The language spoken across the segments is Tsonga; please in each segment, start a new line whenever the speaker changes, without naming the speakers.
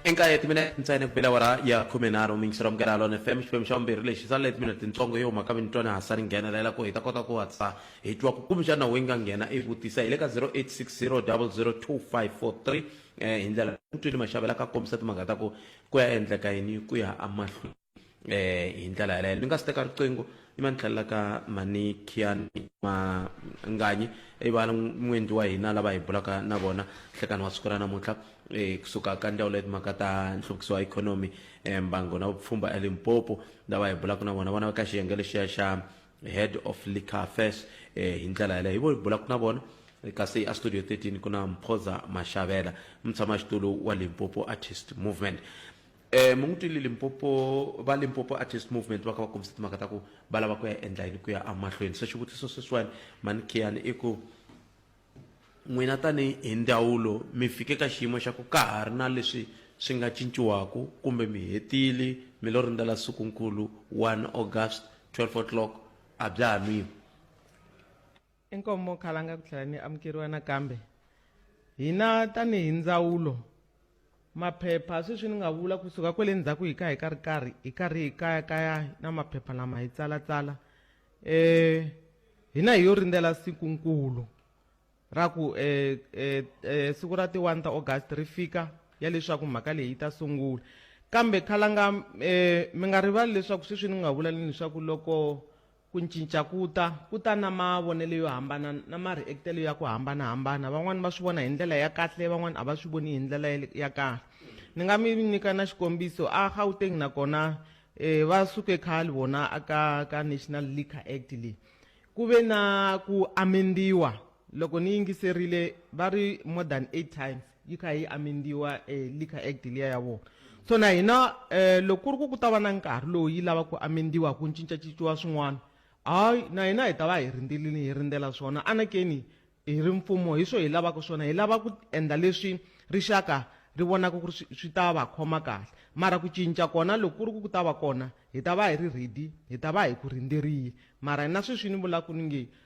inkaye timinete ntsene ku bela wara ya khume nharhu mingisiro amukela lona fm xiphemu xa vumbirhi lexi sale timinete ntsongo yo huma ka minitwani hasa ri nghenelela ku hi ta kota ku hatlisa hi twa ku kumbexana wu yi nga nghena i vutisa hi le ka 0860 0025543 hi ndlela mutwini maxavela ka kombisa timhaka ta ku ku ya endleka yini ku ya amahlweni eh hi ndlela yaleyo ni nga si teka riqingho ni va ni tlhelela ka manikiani manganyi i va n'wendli wa hina lava hi bulaka na vona nhlekani wa siku ra namuntlha um kusuka ka ndzawulo ya timhaka ta nhluvukiso wa ikhonomi um mbango na vupfhumba elimpopo lava hi bulaka na vona vona ka xiyenge lexiya xa head of liquor affairs um hi ndlela yaleyo hi vo hi bulaka na vona kasi a studio 13 ku na mphoza maxavela mutshamaxitulu wa limpopo artist movement Eh, mi n'wi twile limpopo va limpopo artist movement va kha va kombisa timhaka ta ku va lava ku ya endla yini ku ya amahlweni se xivutiso sweswiwani mani khiyani i ku n'wina tanihi hi ndzawulo mi fike ka xiyimo xa ku ka ha ri na leswi swi nga cinciwaku kumbe mi hetile mi lo rindzela sikunkulu 1 august 12 o'clock a bya ha nwiwi inkomo khalanga ku tlhela ni amukeriwa nakambe hina tanihi ndzawulo maphepha sweswi ni nga vula kusuka kwele ndzhaku hi ka hi ka ri karhi hi karhi hi kaya kaya na maphepha lama hi tsalatsala um hina hi yo rindzela siku nkulu ra ku um um siku ra ti-one ta august ri fika ya leswaku mhaka leyi yi ta sungula kambe khalanga um mi nga rivali leswaku sweswi ni nga vula leswaku loko Ku ncinca ku ta ku ta na mavonelo yo hambana na mariektelo ya ku hambana-hambana. Van'wana va swi vona hi ndlela ya kahle, van'wana a va swi voni hi ndlela ya kahle. Ni nga mi nyika na xikombiso, a Gauteng na kona eh, va suke khale vona aka ka National Liquor Act leyi. Ku ve na ku amendiwa loko ni yingiserile va ri more than eight times. yi kha yi amendiwa eh, liquor act liya ya vona so na hina eh, loko ku ri ku ku ta va na nkarhi lowu yi lava ku amendiwa ku cincacinciwa swin'wana hayi na hina hi ta va hi rindzelile hi rindzela swona anakeni hi ri mfumo hi swo hi lavaka swona hi lava ku endla leswi rixaka ri vonaka ku ri swi- swi ta va khoma kahle mara ku cinca kona loko ku ri ku ku ta va kona hi ta va hi ri ready hi ta va hi ku rindzerile mara na sweswi ni vulaka ni nge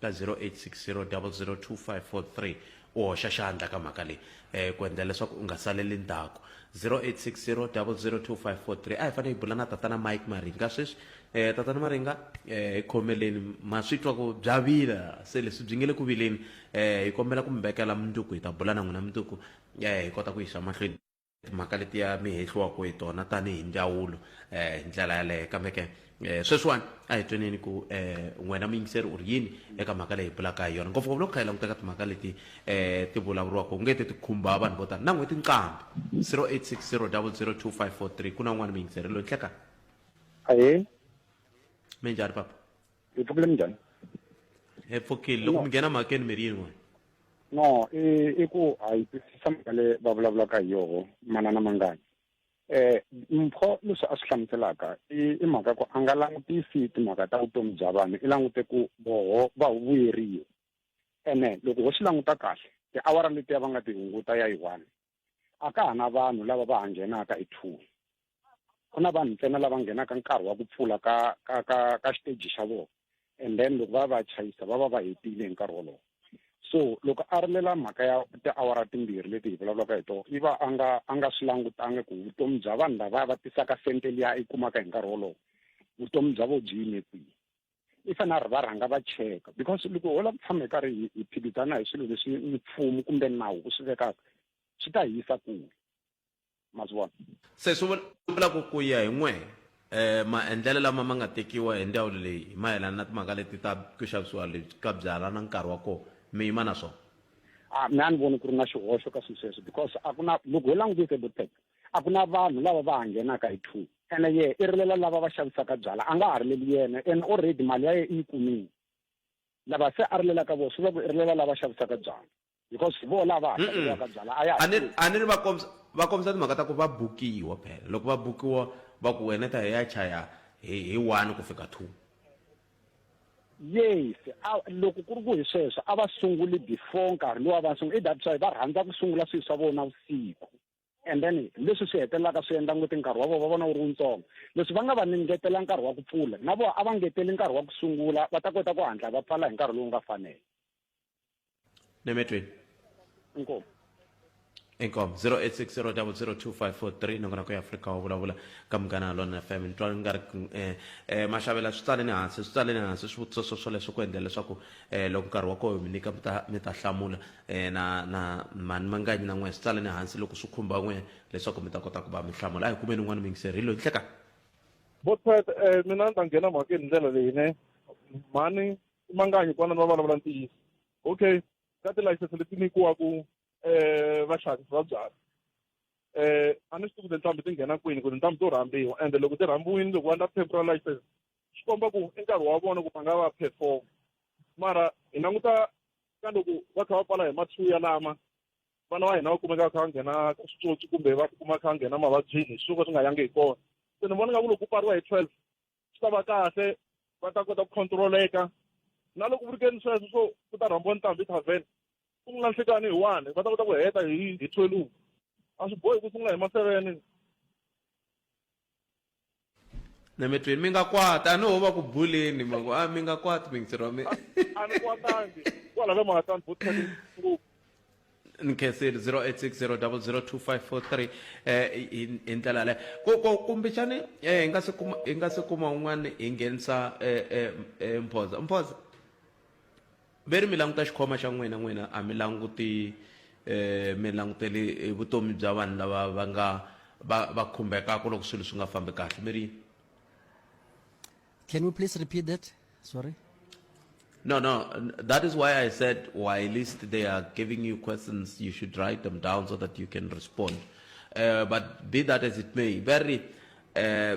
ka 0860002543 u hoxa xandla ka mhaka leyi um ku endla leswaku u nga saleli ndzhaku 0860002543 a hi fanele hi bula na tatana mike maringa sweswi um tatana maringa um hi khomeleni ma swi twa ku bya vila se leswi byi nge le ku vileni um hi kombela ku mi vekela mundzuku hi ta bula na n'wina mundzuku um hi kota ku yisa mahlweni timhaka letiya mi hehliwaka hi tona tanihi ndzawulo um hi ndlela yaleyo kambe ke um sweswiwani a hi tweneni ku um n'wina muyingiseri u ri yini eka mhaka leyi hi bulaka hi yona ngopfungopfu loko kha hi languteka timhaka leti um ti vulavuriwaka u nge te ti khumba vanhu vo tala na n'hweti nqambi 0860 002543 ku na un'wana muyingiseri loyi nhlekani ahee minjhani papa hi pfukile minjhani hi pfukile loko mi nghena mhakeni mi ri yin'we no i i ku a yi twisisa mhaka le va vulavulaka hi yoho manana mangani eh mpho leswi a swi hlamuselaka i mhaka ku a nga langutisi timhaka ta vutomi bya vanhu i langute ku voho va vuyeriwa ene loko ho swi languta kahle tiawara letiya va nga ti hunguta ya yi one a ka ha na vanhu lava va ha nghenaka hi two ku na vanhu ntsena lava nghenaka nkarhi wa ku pfula ka ka ka ka xiteji xa vona and then loko va va chayisa va va va hetile hi nkarhi wolowo so loko a rilela mhaka ya tiawara timbirhi leti hi vulavulaka hi tona i va a nga a nga swi langutangi ku vutomi bya vanhu lava va tisaka sente liya i kumaka hi nkarhi wolowo vutomi bya vo byi yime kwihi i fanele a ri va rhanga va cheka because loko ho la ku tshama hi karhi hi hi phikizana hi swilo leswi mfumo kumbe nawu wu swi vekaka swi ta hi yisa kule ma swi vona se swi vula ku ku ya hi n'we eh maendlelo lama ma nga tekiwa hi ndzawulo leyi hi mayelana na timhaka leti ta ku xavisiwa lebyi ka byala na nkarhi wa kona mi yima na swona a ah, mi a ni voni ku ri na xihoxo ka swilo sweswo because a ku na loko ho langutise botec a ku na vanhu lava va ha nghenaka hi two ene ye i rilela lava va xavisaka byala a nga ha rileli yena ene already mali ya ye i yi kumile lava se a rilelaka vona swi vula ku i rilela lava xavisaka byala because hi vona lava hatlaka byala a ya a ni a ni ri va kombisa va kombisa timhaka ta ku va bukiwa phela loko va bukiwa va ku wena ta hi ya chaya hi hi one ku fika two yes loko ku ri ku hi sweswo a va sunguli before nkarhi lowu a va sungula i that's why va rhandza ku sungula swilo swa vona vusiku and then leswi swi hetelelaka swi endla ngoti nkarhi wa vona va vona wu ri wutsongo leswi va nga va ni ngetela nkarhi wa ku pfula na vona a va ngeteli nkarhi wa ku sungula va ta kota ku hatla va pfala hi nkarhi lowu nga fanela nemetweni inkomu inkomo 0860002543 nongonako ya afrika wa vulavula ka munghana lona fm ni twa nga ri um um maxavela swi tsaleni hansi swi tsaleni hansi swivutiso swo swoleswo ku endlela leswaku um loko nkarhi wa koho mi nyika mi ta mi ta hlamula Eh, na na mhani manganyi na n'we swi tsaleni hansi loko swi khumba n'we leswaku mi ta kota ku va mi hlamula a hi kumeni un'wana miyingiseri hi loyi nhleka Botpet eh mina ni ta nghena mhaka hi ndlela leyi ne mhani i manganyi kwana ni va vulavula ntiyiso okay ka tilayisense leti nyikiwaku eh vaxavisi va byala eh a ni swi tivi ku tintambu ti nghena kwini ku tintambu to rhambiwa ende loko ti rhambiwini loko va endla temporal license swi komba ku i nkarhi wa vona ku va nga va perform mara hi languta ka loko va kha va pfala hi mathuya lama vana va hina va kumeka va kha va nghena ka switsotsi kumbe va tikuma kha va nghena mavabyini hi swo ka swi nga yangi hi kona se ni vona nga ku loko ku pfariwa hi twelve swi ta va kahle va ta kota ku controleka na loko ku ri ke ni sweswo swo ku ta rhambiwa ntambi tavern ku nga nhlikani hi one va ta kota ku heta hi hi twelve a swi bohi ku sungula hi ma-seven na mi tweni mi nga kwata a no va ku buleni ma ku a mi nga kwati mingitseri wa mi a ni kwatangi kwala ka mahatani bo tshake ngopfu ni khenseli 0860002543 eh hi hi ndlela le ko ko kumbexani eh hi nga se kuma hi nga se kuma un'wana hi nghenisa eh eh eh mphoza mphoza Mi ri mi languta xikhwama xa n'wina, n'wina a mi languti, mi langutele vutomi bya vanhu lava va nga va va khumbhekaka loko swilo swi nga fambi kahle. Mi ri. Can we please repeat that? Sorry. No, no, that is why I said while least they are giving you questions, you should write them down so that you can respond. Uh, but be that as it may, very uh,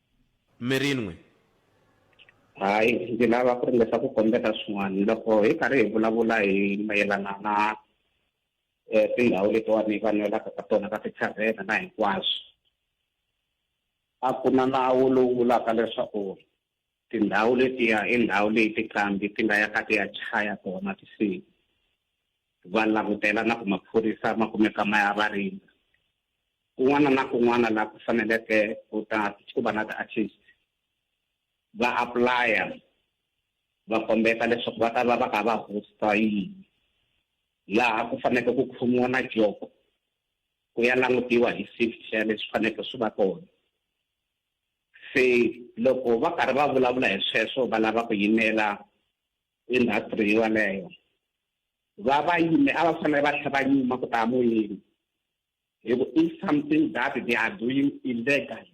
mi rin'we hayi ndzi lava ku ringesa ku kombeta swin'wana loko hi karhi hi vulavula hi mayelana na um tindhawu letiwani va nwelaka ka tona ka tithavhena na hinkwaswo a ku na nawu lowu vulaka leswaku tindhawu letiya i ndhawu leyi tiqambi ti nga ya ka ti ya chaya tona tisiku va langutela na ku maphorisa ma kumeka ma ya va rindza kun'wana na kun'wana laha ku faneleke ku ta ku va na ti-artist va apply-a va kombeta leswaku va ta va va kha va hosta yini laha ku faneke ku khomiwa na joko ku ya langutiwa hi safety ya leswi faneke swi va kona se loko va karhi va vulavula hi sweswo va lava ku yimela industry yaleyo va va yime a va fanele va tlhe va nyuma ku ta moyeni hi ku if something that they are doing illegal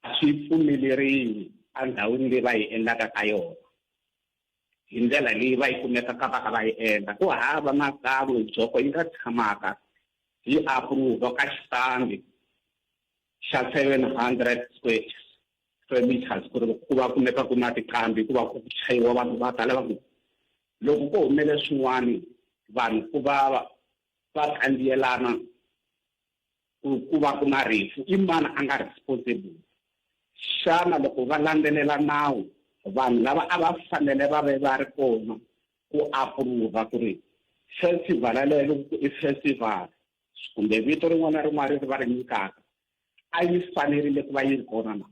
a swi pfumeleriwi endhawini leyi va yi endlaka ka yona hi ndlela leyi va yi kumekaka va ka va yi endla ku hava nakan'we byoko yi nga tshamaka yi approva ka xitambi xa seven hundred squares skirmishes ku ri ku va kumeka ku na tiqambi ku va ku chayiwa vanhu va ta lava ku loko ko humele swin'wana vanhu ku va va kandziyelana ku va ku na rifu i mani a nga responsible xana loko va landzelela nawu vanhu lava a va fanele va ve va ri kona ku approva ku ri festival yaleyo loko i festival kumbe vito rin'wana na rin'wana leri va ri nyikaka a yi fanerile ku va yi ri kona na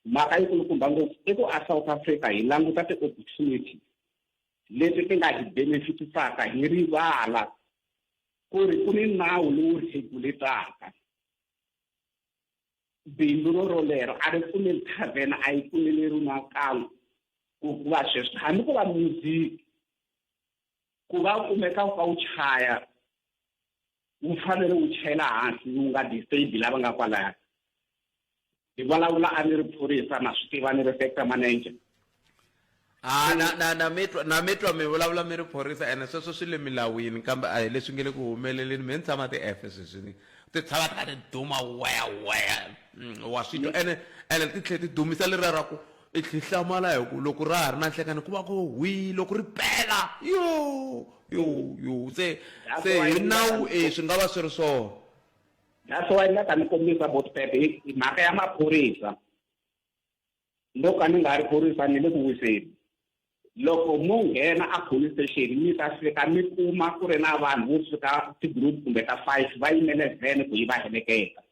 mhaka yi kulukumba ngopfu i ku a south africa hi languta ti-opportunity leti ti nga hi benefitisaka hi rivala ku ri ku ni nawu lowu regulataka bindzu ro rolero a ri pfumeli thavhena a yi pfumeleriwi nakan'we ku va sweswo hambi ko va music Ku va u kumeka u kha u chaya wu fanele wu chayela hansi wu nga disable lava nga kwalaya hi vulavula a ni ri phorisa ma swi tiva ni ri sector manager a na na na mitwa na mitwa mi vulavula mi ri phorisa ene sweswo swi le milawini kambe a hi leswi nge le ku humeleleni mi ni tshama ti-efe sweswini ti tshama ti kha ti duma weya weya mm, wa swi twa ene ene ti tlhela ti dumisa leriya ra ku I tlhe i hlamala hi ku loko ra ha ri na nhlekani ku va ku hwi loko ri pela yo yo yo se se hi nawu e swi nga va swi ri swona that's why ni nga ta mi kombisa botpepe hi mhaka ya maphorisa loko a ni nga ri phorisa ni le ku wiseni loko mo nghena a police station mi ta fika mi kuma ku ri na vanhu vo fika ti-group kumbe ta five va yimele vhene ku yi va heleketa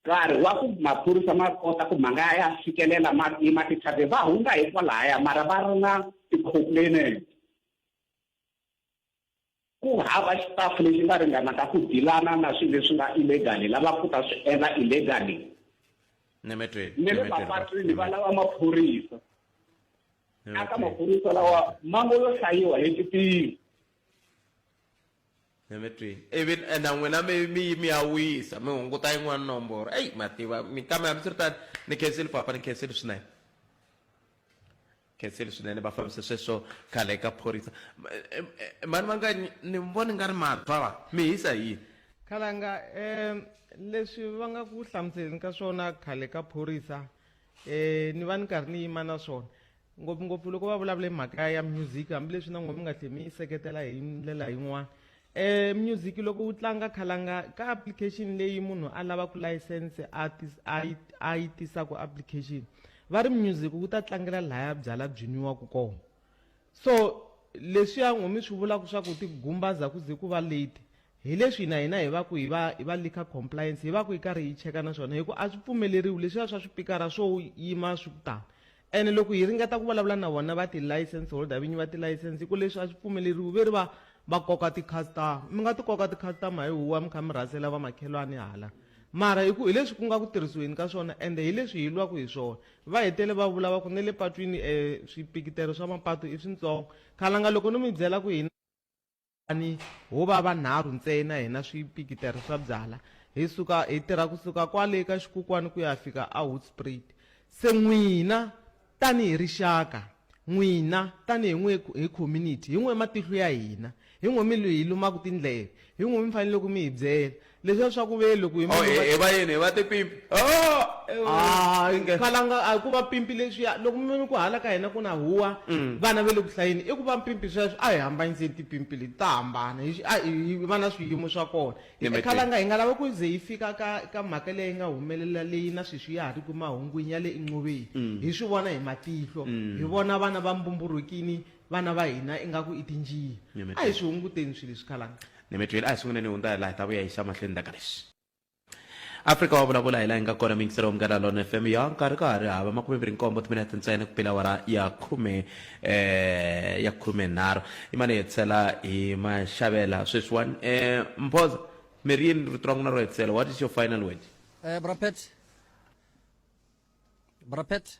Nkarhi wa ku maphorisa ma kota ku ma nga ya fikelela ma tima ti-charges va hundza hi kwalaya mara va ri na ti-complainant. Ku hava staff lexi nga ringanaka ku deal-ana na swilo leswi nga illegal lava ku ta swi endla illegally. Ni mi twile. Ni le mapatwini va lava maphorisa. Aka maphorisa lawa ma ngo lo hlayiwa hi titirhi. Hi mi twini ivi e na n'wina mi mi yi mi ya wisa mi hunguta yin'wana nomboro eyi ma tiva mi kambe hambi swi ri tani ni khenseli papa ni khenseli swinene khenseli swinene va fambise sweswo khale eka phorisa mani va nga ni voni nga ri matwa va mi hisa hi yini khalanga um leswi va nga ku hlamuseleni ka swona khale ka phorisa eh ni va ni karhi ni yima na swona ngopfungopfu loko va vulavula mhaka ya music hambileswi na n'wina mi nga tlhe mi yi seketela hi ndlela yin'wana eh music loko wu tlanga khalanga ka application leyi munhu a lava ku license a a yi tisa ku application va ri music wu ta tlangela laya byala byinyiwaka kona so leswiya n'wumi swi vulaka swa ku tigumbaza ku ze ku va late Hi leswi na hina hi va ku hi va hi va liquor compliance hi va ku hi karhi hi cheka na swona hi ku a swi pfumeleriwi leswiya swa swipikara swo yima swi ku tani ene loko hi ringeta ku vulavula na vona va ti-license holder vinyi va ti-license hi ku leswi a swi pfumeleriwi ve ri va va koka ti-customer mi nga ti koka ti-customer hi huwa mi kha mi rhasela vamakhelwani hala mara hi ku hi leswi ku nga ku tirhisiweni ka swona ende hi leswi hi lwaku hi swona va hetele va vula va ku ne le patwini um swipikitero swa mapatu i swintsongo khalanga loko no mi byela ku hina Kutani ho va vanharhu ntsena hina swipikitara swa byala, hi suka hi tirha ku suka kwale eka xikokwani ku ya fika eHoedspruit. Se n'wina tanihi rixaka, n'wina tanihi n'we hi community, hi n'we matihlo ya hina, hi n'we mi hi lumaka tindleve, hi n'we mi faneleke mi hi byela. leswiya swa ku ve loko hi oh, munhu- hi va yini hi va tipimpi Ah, eh, Ah, Inge. khalanga a ku va pimpi leswiya loko mi vona ku hala ka hina ku na huwa Mm. vana ve le ku hlayeni i ku va mpimpi sweswo a hi hambanyiseni tipimpi leti ta hambana hi xi- a hi hi va na swiyimo swa kona Hi Nimitini. khalanga hi nga lava ku ze yi fika ka ka mhaka leyi nga humelela leyi na sweswi ya ha ri ku mahungwini ya le inqoveni Mm. hi swi vona hi matihlo hi vona vana va mbumburhukini vana va hina ingaku i tinjiya Nyemetweni. a hi swi hunguteni swilo leswi khalanga nemetweni a hi sunguleni hi hundza hi laha hi ta vuya hi xa mahlweni ndaka lexi afrika wa vulavula hi laha yi nga kona mingiselo wa munghana lona fm ya nkarhi ka ha ri hava makume mbirhi nkombo timinete ntsena ku pela wara ya khume eh ya khume nharhu i mane hi tshela hi maxavela sweswiwani eh mphoza mi ri yini rito ra n'wina ro hetisela what is your final word Eh, Brapet. Brapet.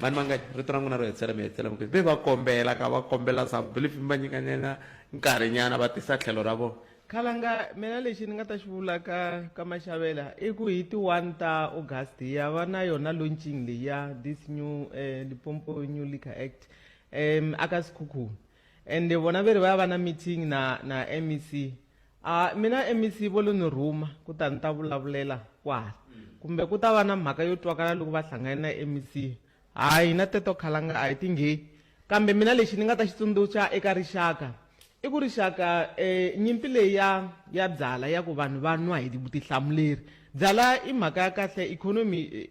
Vanhu vangani? Rito ra n'wina ro hetisela mi hetisela mi ku ve va kombela ka va kombela some believe mi va nyikanyana nkarhinyana va tisa tlhelo ra vona. Khalanga mina lexi ni nga ta xi vula ka ka Maxavela i ku hi ti one ta August hi ya va na yona launching leyi ya this new eh, Limpopo New Liquor Act um aka Sikhukhuni ende vona ve ri va ya va na meeting na na MEC A mina MEC vo lo ni rhuma ku ta ni ta vulavulela kwala kumbe ku ta va na mhaka yo twakala loko va hlangane na MEC. Hayi hina teto khalanga a hi ti ngheyi kambe mina lexi ni nga ta xi tsundzuxa eka rixaka i ku rixaka nyimpi leyi ya ya byala ya ku vanhu va nwa hi vutihlamuleri byala i mhaka ya kahle ikhonomi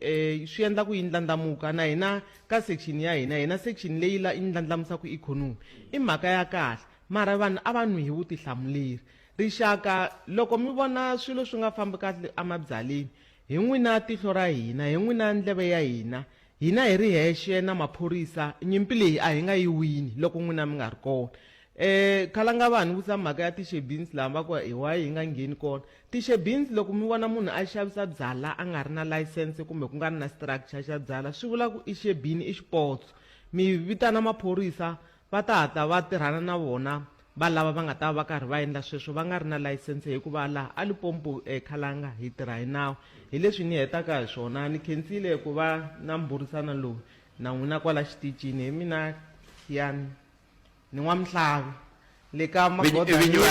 swi endla ku yi ndlandlamuka na hina ka section ya hina hina section leyi la yi ndlandlamusaka ikhonomi i mhaka ya kahle Mara vanhu a va nwi hi vutihlamuleri. Rixaka, loko mi vona swilo swi nga fambi kahle emabyaleni, hi n'wina tihlo ra hina, hi n'wina ndleve ya hina, hina hi ri hexe na maphorisa, nyimpi leyi a hi nga yi wini loko n'wina mi nga ri kona. E, Khalanga va ni vutisa mhaka ya ti-shebins laha va ku, Hi wayi hi nga ngheni kona? Ti-shebins, loko mi vona munhu a xavisa byala a nga ri na layisense kumbe ku nga ri na structure xa byala, swi vula ku i xebini, i xipotso. Mi vitana maphorisa. Va ta hatla va tirhana na vona valava va nga ta va va karhi va endla sweswo va nga ri na layisense hikuva laha eLipompo eKhalanga hi tirha hi nawu. Hi leswi ni hetaka hi swona, ni khensile ku va na mbhurisano lowu na n'wina kwala xiticini. Hi mina Khian ni N'wamhlavi le ka magoda ni yo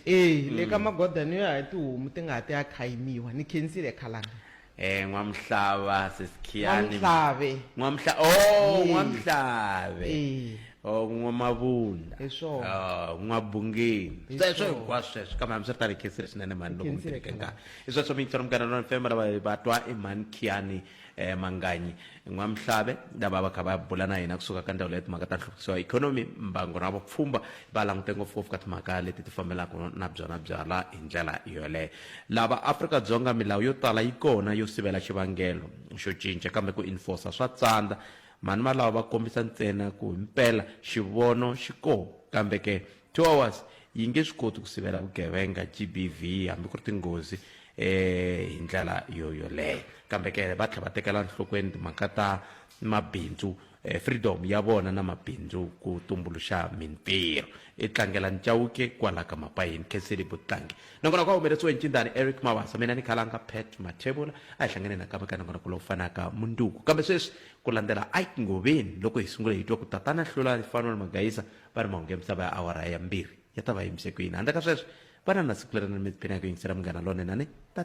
e le ka magoda ni yo ya hi tihomu ti nga ha ti ya khayimiwa. Ni khensile eKhalanga. Eh Nwamhlaba sesikhiyani. N'wamhlabe. N'wamhla oh Yes. N'wamhlabe. Eh. Oh N'wamabunda. Hi swona. Oh N'wabungeni. Hi Sweswo swona. hinkwaswo sweswo kambe hambi swi ri tani hi khensile swinene mhani loko mi Khensile tirheke nkarhi. Hi sweswo mi yingisela munghana lona FM lava va twa i mhani Khiyani eh Manganyi N'wamhlabe lava va kha va bula na hina kusuka ka ndzawulo ya timhaka ta nhluvukiso wa ikhonomi mbango na vupfhumba va langute ngopfungopfu ka timhaka leti ti fambelaka na byona byala hi ndlela yoleyo Lava Afrika Dzonga milawu yo tala yi kona yo sivela xivangelo xo cinca kambe ku enforcer swa tsandza. Mhani valava va kombisa ntsena ku himpela xivono xi ko kambe ke two hours yi nge swi koti ku sivela vugevenga, GBV, hambi ku ri tinghozi e hi ndlela yo yoleyo. Kambe ke va tlhela va tekela nhlokweni timhaka ta mabindzu freedom ya vona na mabindzu ku tumbuluxa mintirho i tlangela ncawuke kwala ka mapayini khenseli vutlangi nakona ku humeleriwe ncindani eric mawasa mina ni khalanga pat mathevula a hi hlangane nakambe ka nongonoko lowu fanaka munduku kambe sweswi ku landzela ike ngoveni loko hi sungule hi twa ku tatana hlula fanwel magayisa va ri mahungu ya misava ya awara ya mbirhi ya ta va yimise ku yini handle ka sweswo vana na siku leri na mi tiphina hi ku yingisela munghana lonene tata